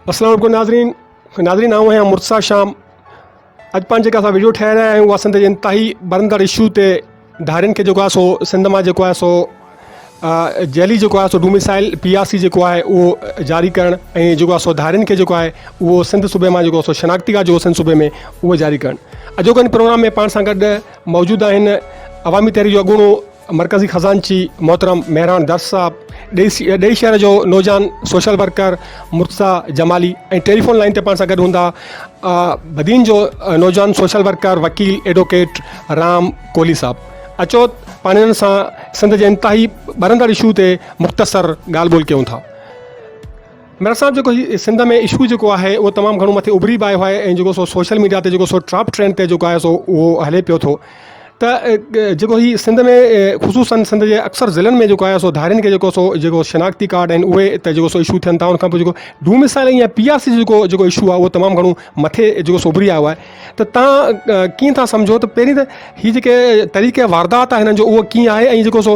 السلام علیکم ناظرين ناظرين آئون آهيان مرتضا شام اڄ پاڻ جيڪا اسان ويڊيو ٺاهي رهيا آهيون اها سنڌ جي انتهائي برندڙ اشو تي ڌارين کي جيڪو آهي سو سنڌ مان جيڪو آهي سو جيلي جيڪو آهي سو ڊوميسائيل پي آر سي جيڪو آهي اهو جاري ڪرڻ ۽ جيڪو آهي سو ڌارين کي جيڪو آهي اهو سنڌ صوبي مان جيڪو سو شناختي ڪارڊ جيڪو سنڌ صوبي ۾ اهو جاري ڪرڻ اڄوڪي پروگرام ۾ پاڻ سان گڏ موجود آهن عوامي تحريڪ جو اڳوڻو مرڪزي خزانچي محترم مهراڻ درس صاحب ڏي ڏي شهر جو نوجوان social worker Murtaza Jamali ۽ telephone line تي پاڻ سان گڏ هوندا بدين جو نوجوان سوشل ورڪر وڪيل ايڊووڪيٽ رام ڪولي صاحب اچو پاڻيرن سان سنڌ جي انتهائي ٻرندڙ اشو تي مختصر ڳالهه ٻولهه ڪيون ٿا. مير صاحب جيڪو هي سنڌ ۾ اشو جيڪو آهي اهو تمام گهڻو مٿي اڀري به آيو آهي ۽ جيڪو سو سوشل ميڊيا تي جيڪو سو ٽراپ ٽرينڊ تي جيڪو آهي سو اهو هلي پيو ٿو ته جيڪو هي سنڌ ۾ خصوصن سنڌ جي اڪثر ضلعن ۾ جيڪو آهي سو ڌارين کي جيڪو سو جيڪو شناختي ڪارڊ آهن اهي ته جيڪو سو اشو ٿين ٿا ان کان پوء جيڪو ڊومسائل ۽ پي آر سي جيڪو جيڪو اشو آهي اهو تمام گهڻو مٿي جيڪو سو اڀري آيو آهي ته تان ڪيئن ٿا سمجهو ته پهرين ته هي جيڪي طريقي واردات آهي هنن جو اهو ڪيئن آهي ۽ جيڪو سو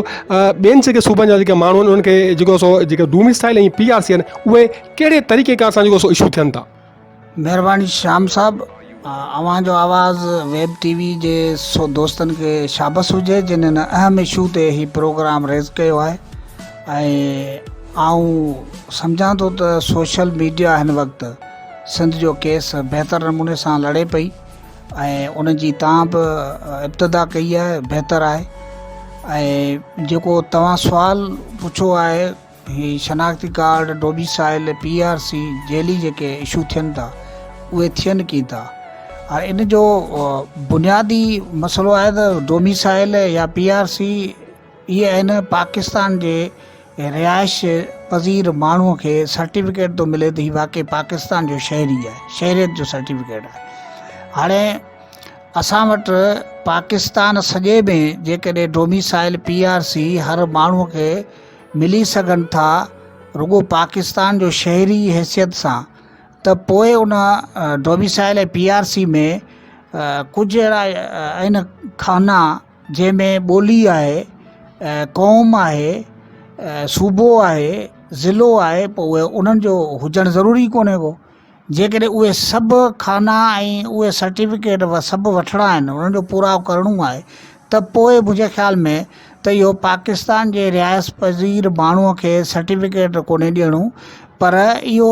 ٻين جيڪي صوبن جا جيڪي ماڻهو آهن انهن کي جيڪو سو جيڪي domicile ۽ P R C آهن اهي ڪهڙي طريقي ڪار سان جيڪو سو اشو ٿين ٿا. مهرباني شيام صاحب اوهان جو آواز ويب ٽي وي جي سو دوستن کي شابس هجي جن هن اهم اشو تي هي پروگرام ريز ڪيو آهي ۽ آئون سمجهان ٿو ته سوشل ميڊيا هن وقت سنڌ جو ڪيس بهتر نموني سان لڙي پئي ۽ ان جي تان به ابتدا ڪئي آهي بهتر آهي ۽ جيڪو توهان سوال پڇو آهي هي شناختي card domicile P R C جيلي جيڪي اشو ٿين ٿا اهي ٿين ڪين ٿا ۽ ان جو بنيادي مسئلو آهي ته ڊومي سائل يا پي آر سي اهي آهن پاڪستان جي رهائش پذير ماڻهو کي سرٽيفڪيٽ ٿو ملي ته هي واقعي پاڪستان جو شهري آهي شهريت جو سرٽيفڪيٽ آهي هاڻي اسان وٽ پاڪستان سڄي ۾ جيڪڏهن ڊوميسائل پي آر سي هر ماڻهو کي ملي سگهن ٿا رڳو پاڪستان جو شهري حيثيت سان ته پوء ان ڊوميسائل پي آر سي ۾ ڪجهه اهڙا آهن خانا جنهن ۾ ٻولي آهي، قوم آهي، صوبو آهي، ضلعو آهي پوء اهي انهن جو هجڻ ضروري ڪونهي ڪو. جيڪڏهن اهي سڀ خانا ۽ اهي سرٽيفڪيٽ سڀ وٺڻا آهن انهن جو پورائو ڪرڻو آهي ته پوء منهنجي خيال ۾ ته اهو پاڪستان جي رهائش پذير ماڻهو کي سرٽيفڪيٽ ڪونهي ڏيڻو پر اهو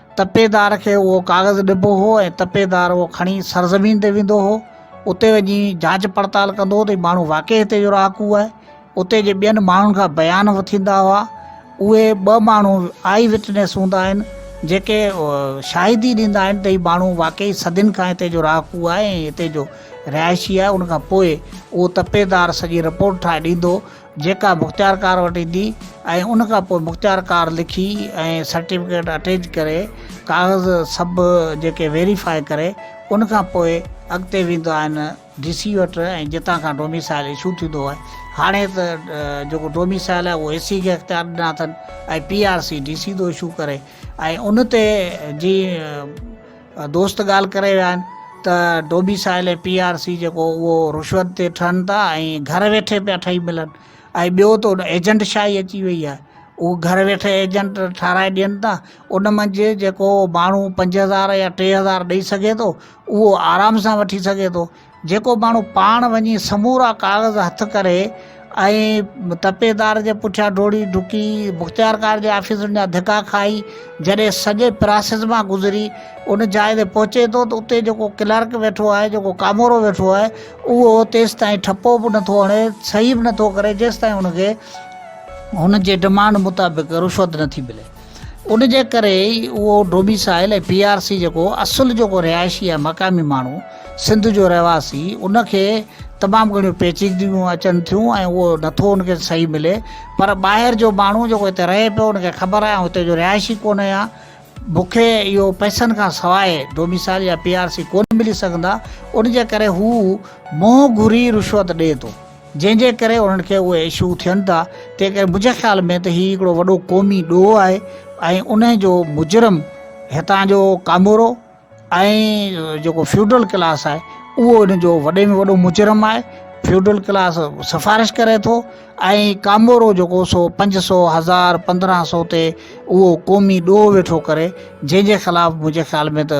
تپيدار کي اهو ڪاغذ ڏبو هو ۽ تپيدار اهو کڻي سرزمين تي ويندو هو اتي وڃي جاچ پڙتال ڪندو هو ته هي ماڻهو واقعي هتي جو رهاڪو آهي اتي جي ٻين ماڻهن کان بيان وٺيندا هئا اهي ٻه ماڻهو آئي وٽنيس هوندا آهن جيڪي شاهدي ڏيندا آهن ته هي ماڻهو واقعي صدين کان هتي جو رهاڪو آهي ۽ هتي جو رهائشي آهي ان کان پوء اهو تپيدار سڄي رپورٽ ٺاهي ڏيندو جيڪا مختيار ڪار وٽ ايندي ۽ ان کان پوء مختيار ڪار لکي ۽ سرٽيفڪيٽ اٽيچ ڪري ڪاغذ سڀ جيڪي ويريفاء ڪري ان کان پوء اڳتي ويندو آهن ڊي سي وٽ ۽ جتان کان ڊوميسائل اشو ٿيندو آهي هاڻي ته جيڪو ڊوميسائل آهي اهو اي سي کي اختيار ڏنا اٿن ۽ P R C D C ٿو اشو ڪري ۽ ان تي جي دوست ڳالهه ڪري ويا آهن ته ڊوميسائيل ۽ پي آر سي جيڪو اهو رشوت تي ٺهن ٿا ۽ گهر ويٺي پيا ٺهي ملن ۽ ٻيو ته ان ايجنٽ شاهي اچي وئي آهي اهو گهر ويٺي ايجنٽ ٺهرائي ڏين ٿا ان منجهه جيڪو ماڻهو پنج هزار يا ٽي هزار ڏئي سگهي ٿو اهو آرام سان وٺي سگهي ٿو جيڪو ماڻهو پاڻ وڃي سمورا ڪاغذ هٿ ڪري ۽ تپيدار جي پٺيان ڊوڙي ڊڪي مختيارڪار جي آفيسن جا ڌڪا کائي جڏهن سڄي پراسيس مان گذري ان جاء تي پهچي ٿو ته اتي جيڪو ڪلرڪ ويٺو آهي جيڪو ڪامورو ويٺو آهي اهو تيستائين ٺپو به نٿو هڻي صحيح به نٿو ڪري جيستائين ان کي هن جي ڊمانڊ مطابق رشوت نٿي ملي ان جي ڪري ئي اهو ڊوميسائل ۽ پي آر سي جيڪو اصل جيڪو رهائشي آهي مقامي ماڻهو سنڌ جو رهواسي ان کي تمام گهڻيون پيچيدگيون اچن ٿيون ۽ اهو نٿو ان کي صحيح ملي پر ٻاهر جو ماڻهو جيڪو هتي رهي پيو ان کي خبر آهي هتي جو رهائشي ڪونهي ها مونکي اهو پئسن کان سواء ڊوميسائل يا پي آر سي ڪونهي ملي سگهندا ان جي ڪري هو منهن گهري رشوت ڏي ٿو جنهن جي ڪري انهن کي اهي اشو ٿين ٿا تنهن ڪري منهنجي خيال ۾ ته هي هڪڙو وڏو قومي ڏوهه آهي ۽ ان جو مجرم هتان جو ڪامورو ۽ جيڪو فيوڊل ڪلاس آهي اهو ان جو وڏي ۾ وڏو مجرم آهي فيوڊل ڪلاس سفارش ڪري ٿو ۽ ڪامورو جيڪو سو پنج سو هزار پندرهن سو تي اهو قومي ڏوهه ويٺو ڪري جنهن جي خلاف منهنجي خيال ۾ ته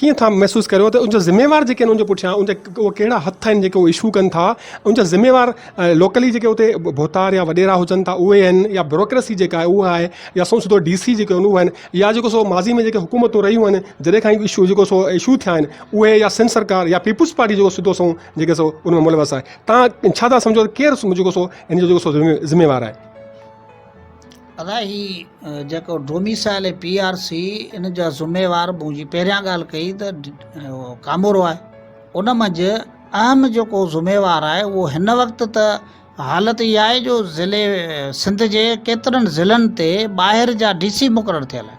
ڪيئن ٿا محسوس ڪريو ته ان جو ذميوار جيڪي ان جي پٺيان ان جا اهي ڪهڙا هٿ آهن جيڪي اهو اشو ڪن ٿا ان جا ذميوار لوڪلي جيڪي اتي ڀوتار يا وڏيرا هجن ٿا اهي آهن يا بيوروڪريسي جيڪا آهي اها آهي يا سو سڌو ڊي سي جيڪي هو آهن يا جيڪو سو ماضي ۾ جيڪي حڪومتون رهيون آهن جڏهن کان اشو جيڪو سو اشو ٿيا آهن اهي يا سنڌ سرڪار يا پيپلز پارٽي جيڪو سڌو سنئون جيڪي سو ان ۾ ملوث آهي تان ڇا ٿا سمجهو ته ڪير جيڪو سو ان جو جيڪو سو ذميوار آهي ادا هي جيڪو ڊوميسائل ۽ پي آر سي ان جا ذميوار مون جي پهريان ڳالهه ڪئي ته ڪامورو آهي ان منجهه اهم جيڪو ذميوار آهي اهو هن وقت ته حالت اها آهي جو ضلعي سنڌ جي ڪيترن ضلعن تي ٻاهر جا ڊي سي مقرر ٿيل آهن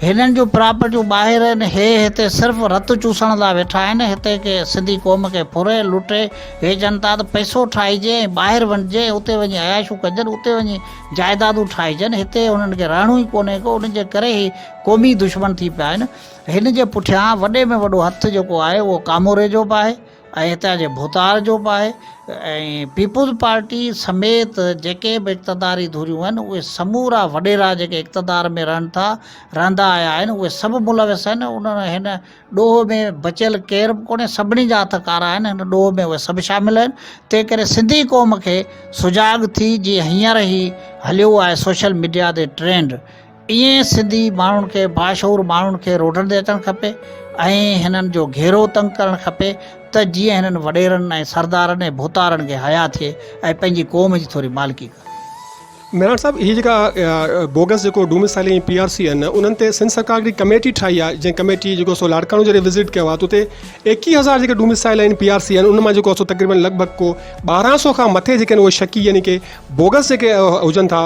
هنن جون پراپرٽيون ٻاهر آهن هي هتي صرف رت چوسڻ لا ويٺا آهن هتي ڪي سنڌي قوم کي ڦري لٽي هي چئن ٿا ته پئسو ٺاهجي ۽ ٻاهر وڃجي ۽ اتي وڃي عياشون ڪجن اتي وڃي جائدادون ٺاهجن هتي هنن کي رهڻو ئي ڪونهي ڪو ان جي ڪري هي قومي دشمن ٿي پيا آهن هن جي پٺيان وڏي ۾ وڏو هٿ جيڪو آهي اهو ڪاموري جو به آهي ۽ هتان جي ڀوتار جو به آهي ۽ پيپلز پارٽي سميت جيڪي به اقتداري ڌريون آهن اهي سمورا وڏيرا جيڪي اقتدار ۾ رهن ٿا رهندا آيا آهن اهي سڀ ملوث آهن ان هن ڏوهه ۾ بچيل ڪير به ڪونهي سڀني جا هٿ ڪارا آهن هن ڏوهه ۾ اهي سڀ شامل آهن تنهن ڪري سنڌي قوم کي سجاڳ ٿي جي هينئر هي هليو آهي سوشل ميڊيا تي ٽرينڊ ائين سنڌي ماڻهن کي باشعور ماڻهن کي روڊن تي اچڻ کپي ۽ هنن جو گهيرو تنگ ڪرڻ کپي ته جيئن هنن وڏيرن ۽ سردارن ۽ ڀوتارن کي حيا ٿئي ۽ پنهنجي قوم جي ٿوري مالڪي ڪن. ميراڻ صاحب هي جيڪا بوگس جيڪو ڊوميسائلنگ ۽ پي آر سي آهن انهن تي سنڌ سرڪار هڪڙي ڪميٽي ٺاهي آهي جنهن ڪميٽي جيڪو سو لاڙڪاڻو جڏهن وزٽ ڪيو آهي ته اتي ايڪيهه هزار جيڪي ڊوميسائل آهن پي آر سي آهن ان مان جيڪو سو تقريبن لڳ ڀڳ ڪو ٻارهن سو کان مٿي جيڪي آهن اهي شڪي يعني ڪي بوگس جيڪي هجن ٿا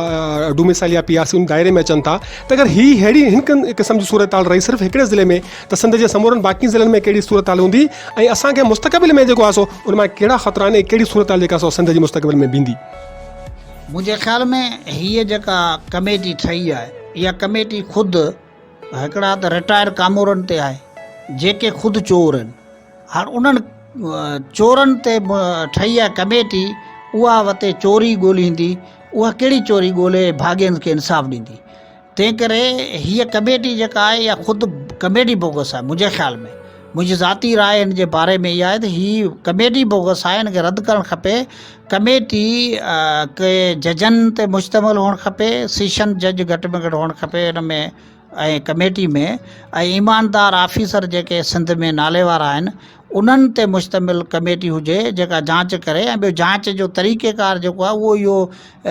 ڊوميسائل يا پي آر سي ان دائري ۾ اچن ٿا ته اگر هي ههڙي هن قسم جي صورتحال رهي صرف هڪڙي ضلعي ۾ ته سنڌ جي سمورن باقي ضلعن ۾ ڪهڙي صورتحال هوندي ۽ اسان کي مستقبل ۾ جيڪو آسو ان مان ڪهڙا خطرا آهن ۽ ڪهڙي صورتحال جيڪا سو سنڌ جي مستقبل ۾ بيندي منهنجي خيال ۾ هي جيڪا ڪميٽي ٺهي آهي يا ڪميٽي خود هڪڙا ته رٽائر ڪامورن تي آهي جيڪي خود چور آهن هاڻ انهن چورن تي ٺهي آهي ڪميٽي اها وتي چوري ڳولهيندي اها ڪهڙي چوري ڳولهي ڀاڳين کي انصاف ڏيندي تنهن ڪري هيء ڪميٽي جيڪا آهي اها خود ڪميٽي بوگس آهي منهنجي خيال ۾ منهنجي ذاتي راء هن جي باري ۾ اها آهي ته هي ڪميٽي بوگس آهي هن کي رد ڪرڻ کپي ڪميٽي ڪي ججن تي مشتمل هئڻ کپي، سيشن جج گهٽ ۾ گهٽ هئڻ کپي ان ۾ ۽ ڪميٽي ۾ ۽ ايماندار آفيسر جيڪي سنڌ ۾ ناليوار آهن انهن تي مشتمل ڪميٽي هجي جيڪا جانچ ڪري ۽ ٻيو جانچ جو طريقيڪار جيڪو آهي اهو اهو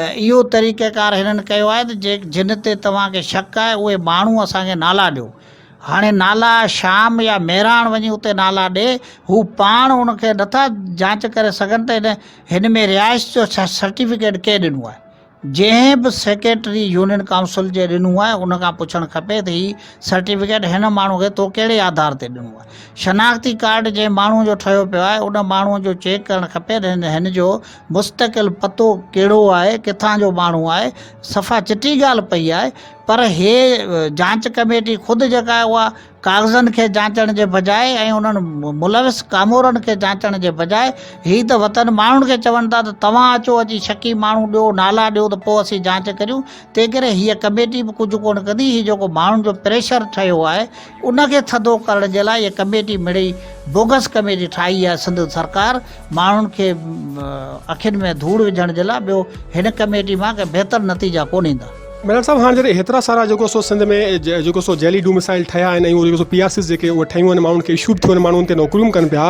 اهو طريقيڪار هنن ڪيو آهي ته جنهن تي توهان کي شڪ آهي اهي ماڻهو اسان کي نالا ڏيو هاڻي نالا شام يا مهراڻ وڃي اتي نالا ڏي، هو پاڻ ان کي نٿا جانچ ڪري سگهن ته هن ۾ رهائش جو سرٽيفڪيٽ ڪنهن ڏنو آهي. جنهن به سيڪريٽري يونين ڪائونسل جي ڏنو آهي ان کان پڇڻ کپي ته هي سرٽيفڪيٽ هن ماڻهو کي تو ڪهڙي آڌار تي ڏنو آهي. شناختي ڪارڊ جنهن ماڻهو جو ٺهيو پيو آهي ان ماڻهو جو چيڪ ڪرڻ کپي ته هن جو مستقل پتو ڪهڙو آهي، ڪٿان جو ماڻهو آهي، صفا چٽي ڳالهه پئي آهي. پر هيء جانچ ڪميٽي خود جيڪا اها ڪاغذن کي جانچڻ جي بجاء ۽ انهن ملوث ڪامورن کي جانچڻ جي بجاء هي ته وتن ماڻهن کي چون ٿا ته توهان اچو اچي شڪي ماڻهو ڏيو نالا ڏيو ته پوء اسين جانچ ڪريون تنهنڪري هيء ڪميٽي به ڪجهه ڪونه ڪندي هي جيڪو ماڻهن جو پريشر ٺهيو آهي ان کي ٿڌو ڪرڻ جي لاء اهي ڪميٽي مڙئي بوگس ڪميٽي ٺاهي آهي سنڌ سرڪار ماڻهن کي اکين ۾ ڌوڙ وجهڻ جي لاء ٻيو هن ڪميٽي مان ڪي بهتر نتيجا ڪون ايندا. ميرال صاحب هاڻ جڏهن هيترا سارا جيڪو سو سنڌ ۾ جيڪو سو جيلي ڊومسائل ٺهيا آهن ۽ جيڪو سو پي آر سيز جيڪي اهي ٺهيون آهن ماڻهن کي اشو به ٿيو آهن ماڻهو ان تي نوڪريون ڪن پيا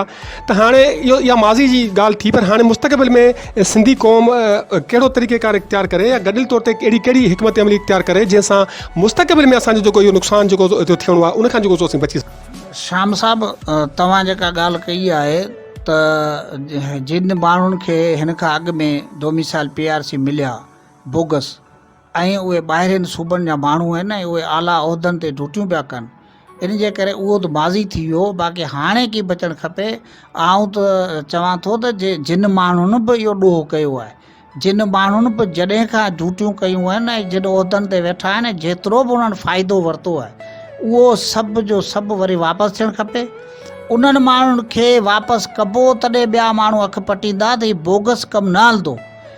ته هاڻي اهو اها ماضي جي ڳالهه ٿي پر هاڻي مستقبل ۾ سنڌي قوم ڪهڙو طريقي ڪار اختيار ڪري يا گڏيل طور تي اهڙي ڪهڙي حڪمت عملي اختيار ڪري جنهن سان مستقبل ۾ اسان جو جيڪو اهو نقصان جيڪو ٿيو ٿيڻو آهي ان کان جيڪو سو اسين بچي شام صاحب توهان جيڪا ڳالهه ڪئي آهي ته جن ماڻهن کي هن کان اڳ ۾ ڊوميسائل پي آر سي مليا بوگس ۽ اهي ٻاهرين صوبن جا ماڻهو آهن ۽ اهي اعليٰ عهدن تي ڊيوٽيون پيا ڪن ان جي ڪري اهو ته ماضي ٿي ويو باقي هاڻي ڪي بچڻ کپي آئون ته چوان ٿو ته جي جن ماڻهن به اهو ڏوهه ڪيو آهي جن ماڻهن به جڏهن کان ڊيوٽيون ڪيون آهن ۽ جن عهدن تي ويٺا آهن ۽ جيترو به انهن فائدو ورتو آهي اهو سڀ جو سڀ وري واپس ٿيڻ کپي انهن ماڻهن کي واپس ڪبو تڏهن ٻيا ماڻهو اک پٽيندا ته هي بوگس ڪم نه هلندو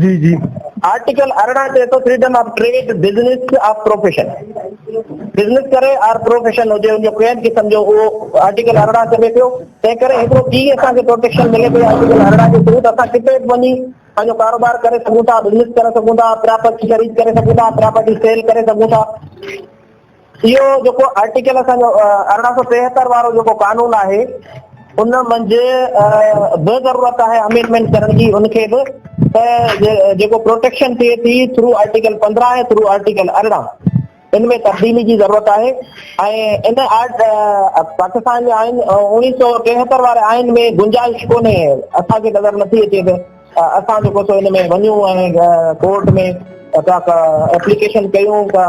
جي جي آرٽيڪل ارڙهن چئي ٿو freedom of trade business of profession business ڪري آر پروفيشن هجي ان جو ڪنهن به قسم جو اهو آرٽيڪل ارڙهن چوي پيو تنهن ڪري هڪڙو ڪي اسان کي پروٽيڪشن ملي پئي آرٽيڪل ارڙهن جو ثبوت اسان ڪتي به وڃي پنهنجو ڪاروبار ڪري سگهون ٿا بزنس ڪري سگهون ٿا پراپرٽي خريد ڪري سگهون ٿا پراپرٽي سيل ڪري سگهون ٿا اهو جيڪو آرٽيڪل اسان جو ارڙهن سؤ ٽيهتر وارو جيڪو قانون آهي ان منجھ به ضرورت آهي امينڊمينٽ ڪرڻ جي ان کي به جيڪو پروٽيڪشن ٿئي ٿي ٿرو آرٽيڪل پندرهن ۽ ٿرو آرٽيڪل ارڙهن ان ۾ تبديلي جي ضرورت آهي ۽ ان آرٽ پاڪستان جي آئين اڻيهه سؤ ٽيهتر واري آئين ۾ گنجائش ڪونهي اسان کي نظر نٿي اچي ته اسان جيڪو سو ان ۾ وڃون ۽ ڪورٽ ۾ ايپليڪيشن ڪيون ته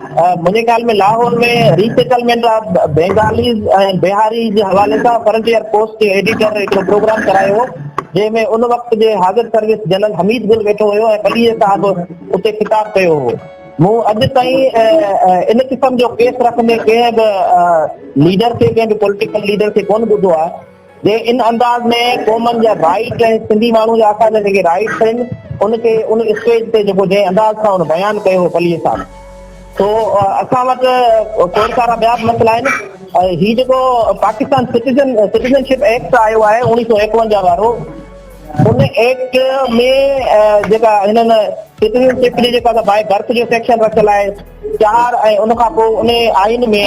منهنجي خيال ۾ Lahore ۾ resettlement of Bengalis ۽ Bihari جي حوالي سان فرنٽيئر پوسٽ جي ايڊيٽر هڪڙو پروگرام ڪرايو هو جنهن ۾ ان وقت جي حاضر سروس جنرل حميد گل ويٺو هيو ۽ ٻليء صاحب اتي خطاب ڪيو هو مون اڄ تائين ان قسم جو ڪيس رکندي ڪنهن به ليڊر کي ڪنهن به پوليٽيڪل ليڊر کي ڪون ٻڌو آهي جي ان انداز ۾ قومن جا رائيٽ ۽ سنڌي ماڻهو جا اسان جا جيڪي رائيٽس آهن ان کي ان اسٽيج تي جيڪو جنهن انداز سان ان بيان ڪيو هو پليء صاحب سو اسان وٽ کوڙ سارا ٻيا به مسئلا آهن هي جيڪو پاڪستان سٽيزن سٽيزنشپ ايڪٽ آيو آهي اوڻيهه سو ايڪونجاهه وارو ان ايڪٽ ۾ جيڪا هنن سٽيزنشپ جي جيڪا باء برٿ جو سيڪشن رکيل آهي چار ۽ ان کان پوء ان آئين ۾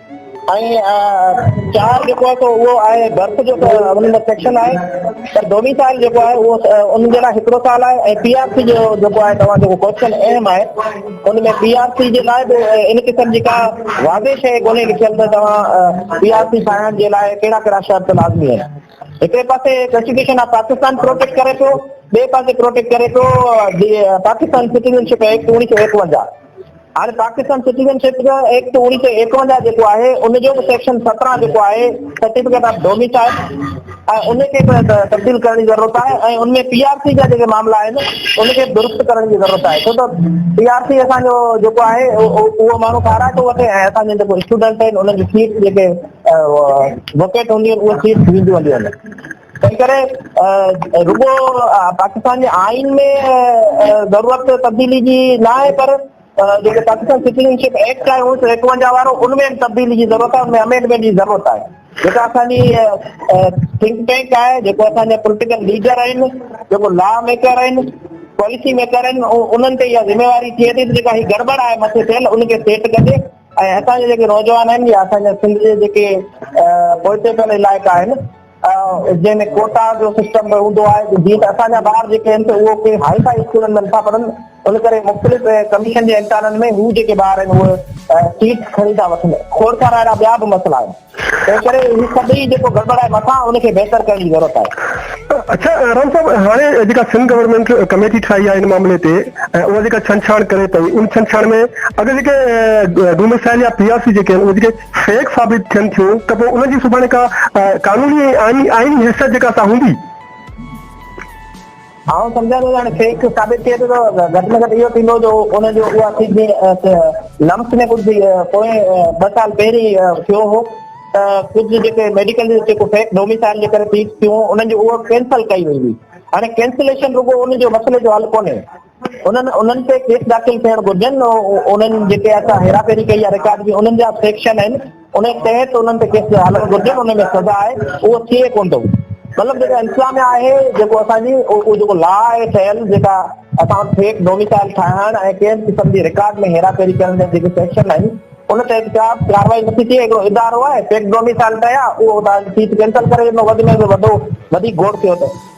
۽ چار جيڪو آهي سو اهو آهي برٿ جو ته انهن ۾ سيڪشن آهي پر ڊوميسائل جيڪو آهي اهو انهن جي لاء هڪڙو سال آهي ۽ پي آر سي جو جيڪو آهي توهان جيڪو ڪوشچن اهم آهي ان ۾ پي آر سي جي لاء به ان قسم جي ڪا واضح شيء ڪونهي لکيل ته توهان پي آر سي ٺاهڻ جي لاء ڪهڙا ڪهڙا شرط لازمي آهن هڪڙي پاسي ڪانسٽيٽيوشن آف پاڪستان پروٽيڪٽ ڪري ٿو ٻئي پاسي پروٽيڪٽ ڪري ٿو پاڪستان سٽيزن شپ ايڪٽ اڻيهه سو ايڪونجاهه هاڻي پاڪستان سٽيزن شپ جو ايڪٽ اوڻيھ سو ايڪونجاهه جيڪو آهي ان جو به سيڪشن سترهن جيڪو آهي سرٽيفڪيٽ آف ڊوميسائل ۽ ان کي به تبديل ڪرڻ جي ضرورت آهي ۽ ان ۾ پي آر سي جا جيڪي معاملا آهن ان کي درست ڪرڻ جي ضرورت آهي ڇو ته پي آر سي اسان جو جيڪو آهي اهو ماڻهو ڪارا ٿو وٺي ۽ اسان جا جيڪو اسٽوڊنٽ آهن انهن جي سيٽ جيڪي وڪيٽ هونديون اهي سيٽ وينديون هليون تنهنڪري رڳو پاڪستان جي آئين ۾ ضرورت تبديلي جي نه آهي پر جيڪو پاڪستان سٽيزن شپ ايڪٽ آهي اڻويهه سو ايڪونجاهه وارو ان ۾ به تبديلي جي ضرورت آهي ان ۾ امينڊمينٽ جي ضرورت آهي جيڪا اسان جي ٿنڪ ٽينڪ آهي جيڪو اسان جا پوليٽيڪل ليڊر آهن جيڪو لا ميڪر آهن پاليسي ميڪر آهن انهن تي اها ذميواري ٿئي ٿي جيڪا هي گڙبڙ آهي مٿي ٿيل ان کي سيٽ ڪجي ۽ اسان جا جيڪي نوجوان آهن يا اسان جا سنڌ جي جيڪي پوئتي پيل علائقا آهن جنهن ۾ ڪوٽا جو سسٽم به هوندو آهي ته جيئن ته اسان جا ٻار جيڪي آهن سي اهو ڪنهن هائي فائي اسڪولن ۾ نٿا پڙهن ان ڪري مختلف ڪميشن جي امتحانن ۾ هو جيڪي ٻار آهن اهي سيٽ کڻي ٿا وٺن کوڙ سارا اهڙا ٻيا به مسئلا آهن تنهن ڪري هي سڀئي جيڪو گڙبڙ آهي مٿان ان کي بهتر ڪرڻ جي ضرورت آهي اچا رام صاحب هاڻي جيڪا سنڌ گورنمينٽ ڪميٽي ٺاهي آهي ان معاملي تي ۽ اها جيڪا ڇنڇاڻ ڪري پئي ان ڇنڇاڻ ۾ اگر جيڪي ڊومسائل يا پي آر سي جيڪي آهن اهي جيڪي فيڪ ثابت ٿين ٿيون ته پوء انهن جي سڀاڻي ڪا قانوني ۽ آئيني حيثيت جيڪا سا هوندي. آئون سمجهان ٿو ته هاڻي فيڪ ثابت ٿئي ٿو ته گهٽ ۾ گهٽ اهو ٿيندو جو ان جو اها سي جي لمس ۾ ڪجهه پوئين ٻه سال پهرين ٿيو هو ته ڪجهه جيڪي ميڊيڪل جيڪو فيڪ ڊوميسائل جي ڪري ٿيون انهن جي اها ڪينسل ڪئي وئي هئي هاڻي ڪينسليشن رڳو ان جو مسئلي جو حل ڪونهي انهن انهن تي ڪيس داخل ٿيڻ گهرجن انهن جيڪي اسان هيراڦيري ڪئي آهي رڪارڊ جي انهن جا سيڪشن آهن ان تحت انهن تي ڪيس هلڻ گهرجن ان ۾ سزا آهي اهو ٿئي ڪون ٿو مطلب جيڪا انتظاميا آهي جيڪو اسان جي اهو جيڪو لا آهي ٺهيل جيڪا اسان وٽ فيڪ ڊوميسائل ٺاهڻ ۽ ڪنهن قسم جي رڪارڊ ۾ هيراڦيري ڪرڻ جا جيڪي سيڪشن آهن ان تحت ڪا ڪاروائي نٿي ٿئي هڪڙو ادارو آهي فيڪ ڊوميسائل ٺهيا اهو تان سيٽ ڪينسل ڪري وڌ ۾ وڌو وڌيڪ گوڙ ٿيو ته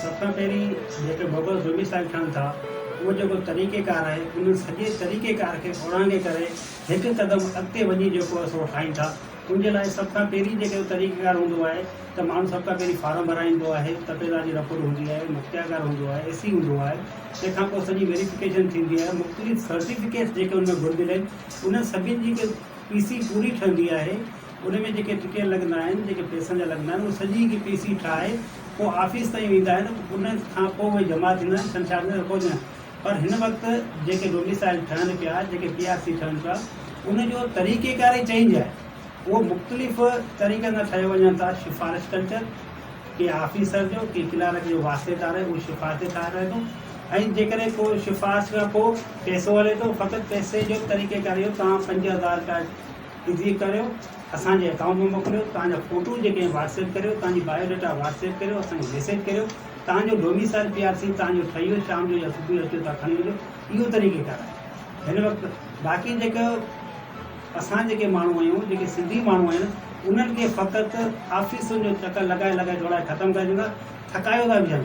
سڀ کان پهرين جيڪي ببر زومي صاحب ٺهن ٿا اهو جيڪو طريقي ڪار آهي ان سڄي طريقي ڪار کي اورانگهي ڪري هڪ قدم اڳتي وڃي جيڪو اسان اهو ٺاهين ٿا ان جي لاء سڀ کان پهرين جيڪو طريقي ڪار هوندو آهي ته ماڻهو سڀ کان پهرين فارم ڀرائيندو آهي تپيدار جي رپورٽ هوندي آهي مختيارڪار هوندو آهي اي سي هوندو آهي تنهن کان پوء سڄي ويريفڪيشن ٿيندي آهي مختلف سرٽيفڪيٽس جيڪي ان ۾ گهرجل آهن انهن سڀني جي هڪ پي سي پوري ٺهندي آهي ان ۾ جيڪي ٽڪيٽ لڳندا آهن، جيڪي پئسن جا لڳندا آهن، اهي سڄي هڪ پي سي ٺاهي پوء آفيس تائين ويندا آهن، ان کان پوء اهي جمع ٿيندا آهن، ڇنڇار ۾ رپورٽ ڏيندا آهن. پر هن وقت جيڪي ڊوميسائيل ٺهن پيا، جيڪي پي آر سي ٺهن پيا، ان جو طريقيڪار ئي چينج آهي. اهو مختلف طريقن سان ٺهيو وڃن ٿا، سفارش ڪلچر، ڪنهن آفيسر جو، ڪنهن ڪلارڪ جو واسطيدار اهي سفارشي ٺاهرائي ٿو ۽ جيڪڏهن ڪو سفارش کان پوء پئسو هلي ٿو، فقط پئسي جو طريقيڪار اهو توهان پنج هزار رپيا، تصديق ڪريو اسان جي اڪائونٽ ۾ موڪليو توهان جا فوٽو جيڪي آهن واٽس ايپ ڪريو توهان جي بايو ڊيٽا واٽس ايپ ڪريو اسان کي ميسيج ڪريو توهان جو ڊوميسائل پي آر سي توهان جو ٺهي ويو شام جو يا صبح جو اچو توهان کڻي وڃو اهو طريقي ڪار آهي هن وقت باقي جيڪو اسان جيڪي ماڻهو آهيون جيڪي سنڌي ماڻهو آهن انهن کي فقط آفيسن جو چڪر لڳائي لڳائي ڊوڙائي ختم ڪري ڇڏيندا ٿڪايو ٿا ويهن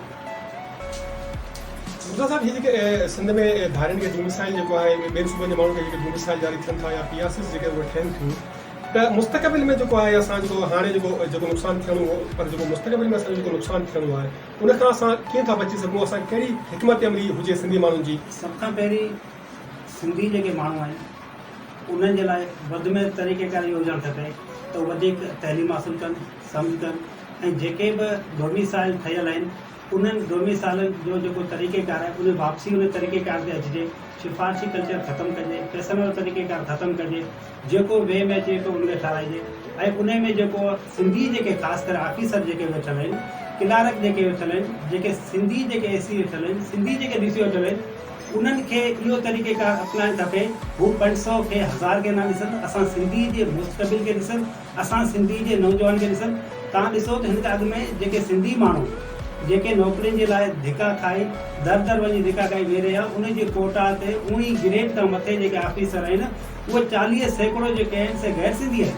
مرزا صاحب هي جيڪي سنڌ ۾ ڌارين کي ڊوميسائل جيڪو آهي ٻين صوبن جي ماڻهن کي جيڪي ڊوميسائل جاري ٿين ٿا يا پي آر سيز جيڪي اهي ٺهن ٿيون ته مستقبل ۾ جيڪو آهي اسان جيڪو هاڻي جيڪو جيڪو نقصان ٿيڻو هو پر جيڪو مستقبل ۾ اسان جيڪو نقصان ٿيڻو آهي ان کان اسان ڪيئن ٿا بچي سگهون اسان ڪهڙي حڪمت عملي هجي سنڌي ماڻهن جي. سڀ کان پهرين سنڌي جيڪي ماڻهو آهن انهن جي لاء وڌ ۾ وڌ طريقيڪار اهو هجڻ کپي ته وڌيڪ تعليم حاصل ڪن سمت ۽ جيڪي به ڊوميسائل ٺهيل آهن انهن ڊوميسائلن جو جيڪو طريقيڪار آهي ان واپسي ان طريقيڪار تي اچجي سفارشي ڪلچر ختم ڪجي پئسن وارو طريقيڪار ختم ڪجي جيڪو وي ۾ اچي ويٺو ان کي ٺاراهجي ۽ انهي ۾ جيڪو سنڌي جيڪي خاص ڪري آفيسر جيڪي ويٺل آهن ڪلارڪ جيڪي ويٺل آهن جيڪي سنڌي جيڪي اي سي ويٺل آهن سنڌي جيڪي ڊي سي ويٺل آهن انهن کي اهو طريقيڪار اپنائڻ کپي هو پنج سئو کي هزار کي نه ڏسن اسان سنڌي جي مستقبل کي ڏسن. اسان سنڌي جي نوجوان کي ڏسن تان ڏسو ته هن کان اڳ ۾ جيڪي سنڌي ماڻهو جيڪي نوڪرين جي لاء ڌڪا کائي در در وڃي ڌڪا کائي ويهي رهيا ان جي ڪوٽا تي اون ئي گريڊ کان مٿي جيڪي آفيسر آهن اهي چاليهه سيڪڙو جيڪي آهن سي غير سنڌي آهن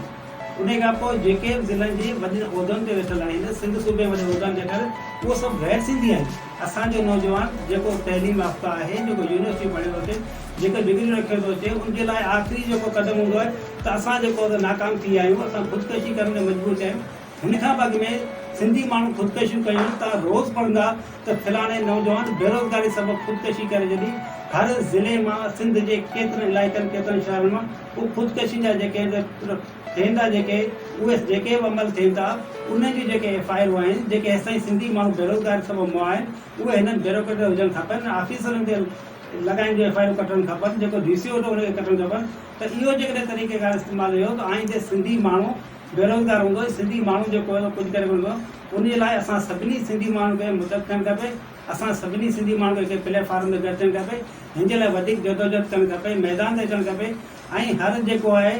انهي کان پوء جيڪي به ضلعن جي وڏين عهدن تي ويٺل آهن سنڌ صوبي جي وڏي عهدن تي ويٺل اهي سڀ غير سنڌي آهن. اسان جو نوجوان جيڪو تعليم يافته آهي، جيڪو يونيورسٽي پڙهيو ٿو اچي، جيڪي ڊگريون رکيو ٿو اچي، ان جي لاء آخري جيڪو قدم هوندو آهي ته اسان جيڪو آهي سو ناڪام ٿي ويا آهيون، اسان خودڪشي ڪرڻ تي مجبور ٿيا آهيون. هن کان به اڳ ۾ سنڌي ماڻهن خودڪشيون ڪيون، توهان روز پڙهندا ته فلاڻي نوجوان بيروزگاري سبب خودڪشي ڪري ڇڏي، هر ضلعي مان، سنڌ جي ڪيترن علائقن، ڪيترن شهرن مان اهي خودڪشين جا جيڪي ٿين ٿا جيڪي اهي جيڪي به عمل ٿين ٿا انهن جون جيڪي ايف آء آرون آهن جيڪي هيستائين سنڌي ماڻهو بيروزگاري سبب مئا آهن اهي هنن بيروڪريٽن هجڻ کپن انهن آفيسرن تي لڳائين جون ايف آء آرون ڪٽڻ کپن جيڪو ڊي سي هوندو ان کي ڪٽڻ کپن ته اهو جيڪڏهن طريقه ڪار استعمال رهيو ته آئيندي سنڌي ماڻهو بيروزگار هوندو ۽ سنڌي ماڻهو جيڪو هي اهو ڪجهه ڪري ڪونه سگهندو ان جي لاء اسان سڀني سنڌي ماڻهن کي متحد ٿيڻ کپي اسان سڀني سنڌي ماڻهن کي هڪ پليٽ فارم تي گڏ ٿيڻ کپي هن جي لاء وڌيڪ جدوجهد ڪرڻ کپي ميدان تي اچڻ کپي. ۽ ھر جيڪو آھي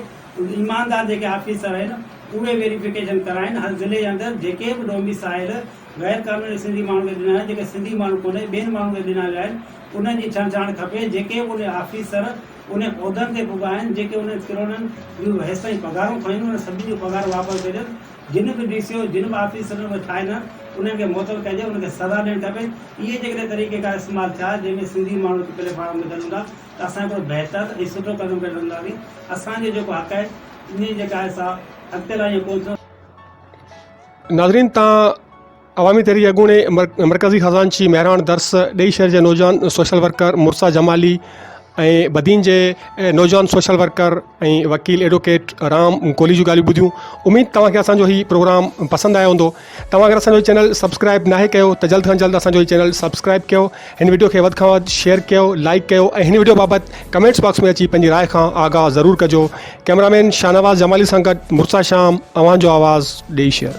ايماندار جيڪي آفيسر آھن اھي ويريفڪيشن ڪرائين ھر ضلعي اندر جيڪي به ڊوميسائيل غير قانوني سنڌي ماڻھن کي ڏنا ويا جيڪي سنڌي ماڻھو ڪونھي ٻين ماڻھن کي ڏنا ويا آھن انھن جي ڇنڊڇاڻ کپي جيڪي به انھي آفيسر انھي عھدن تي پڳا آھن جيڪي انھن ڪروڙن جون هيستائين پگھارون کيون انھن سڀني جون پگھارون واپس ڪجن جن به ڊي سي او جن به آفيسرن کي ٺاھي نه انھن کي معطل ڪجي انھن کي سزا ڏيڻ کپي اھي جيڪڏھن طريقيڪار استعمال ٿيا جنھن ۾ سنڌي ماڻھن کي پليٽ فارم ملن ھوندا ته اسان ڪو بهتر ۽ سٺو قدم کڻي سگهنداسين، اسان جو جيڪو حق آهي انهي جيڪا آهي سا اڳتي لاهي ڪو ٿيو. ناظرين تان عوامي تحريڪ اڳوڻي مرڪزي خزانچي مهراڻ درس ڏيئي شهر جي نوجوان سوشل ورڪر مرسا جمالي ۽ بدين جي نوجوان سوشل ورڪر ۽ وڪيل ايڊوڪيٽ رام ڪولهي جون ڳالهيون ٻڌيون اميد توهان کي اسان جو هي پروگرام پسند آيو هوندو توهان اگر اسان جو چينل سبسڪرائب ناهي ڪيو ته جلد کان جلد اسان جو هي چينل سبسڪرائب ڪيو هن وڊيو کي وڌ کان وڌ شيئر ڪيو لائڪ ڪيو ۽ هن وڊيو بابت ڪمينٽس باڪس ۾ اچي پنهنجي راء کان آگاهه ضرور ڪجو ڪيمرامين شاهنواز جمالي سان گڏ مرسا شام اوهان جو آواز ڏيئي شيئر.